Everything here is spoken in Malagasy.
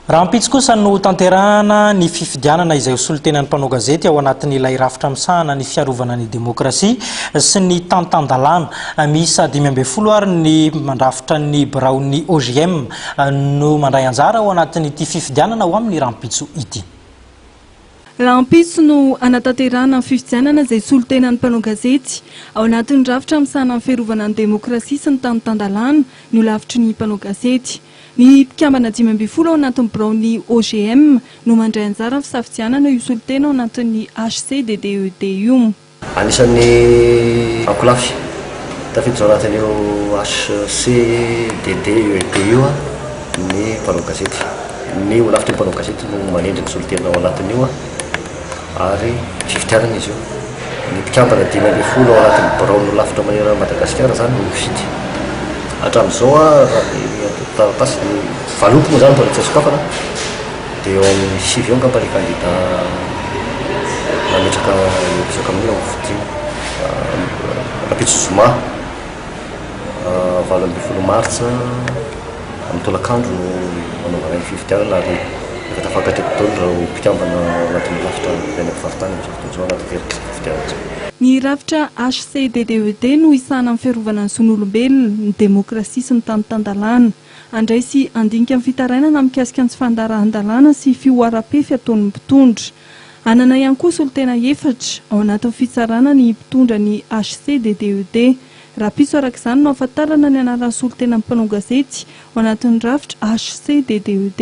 Rahampitso kosa no hotanterahana ny fifidianana izay ho solontenan'ny mpanao gazety ao anatin'ilay rafitra misahana ny fiarovana ny demokrasia sy ny tantan-dalàna. Miisa dimy ambin'ny folo àry ny mandrafitra ny biraon'ny OJM no mandray anjara ao anatin'ity fifidianana ho amin'ny rahampitso ity. Rahampitso no hanatanterahana ny fifidianana izay solontenan'ny mpanao gazety ao anatin'ny rafitra misahana ny fiarovana ny demokrasia sy ny tantan-dalàna ny holafitry ny mpanao gazety. Ny mpikambana dimy ambin'ny folo ao anatin'ny biraon'ny OGM no mandray anjara amin'ny fisafidianana io solontena ao anatin'ny HCDDED io. Anisan'ny ankolafy tafiditra ao anatin'io HCDDED io ny mpanao gazety. Ny holafitry ny mpanao gazety no manendry ny solontena ao anatin'io. ary fifidianana izy io. Ny mpikambana dimy ambin'ny folo ao anatin'ny birao nolafitra manerana an'i Madagasikara izany no mifidy. Hatramin'izao raha ny antontan-taratasy dia valopy moa izany no mbola tsy nosokafana dia eo amin'ny sivy eo angamba ny kandida nametraka eo betsaka amin'ny eo hofidiana. Rahampitso zoma valo ambin'ny folo martsa. Amin'ny tolakandro no hanaovana ny fifidianana ary efa tafakatra eto Dolo ireo mpikambana ao anatin'ny rafitra ben'ny mpivarotany amin'izao fotoana izao ao anatin'ity fifidianana ity. Ny rafitra HCDDED no hisahana amin'ny fiarovana ny zon'olombelona, ny demokrasia sy ny tany tan-dalàna. Handray sy handinika ny fitarainana mikasika ny tsy fandaharan-dalàna sy fihoaram-pefy ataon'ny mpitondra. Hanana ihany koa solontena efatra ao anatin'ny fitsarana ny mpitondra ny HCDDED. Rapiso araka izany no ahafantarana ny anaran'ny solontenan'ny mpanao gazety ao anatin'ny rafitra HCDDED.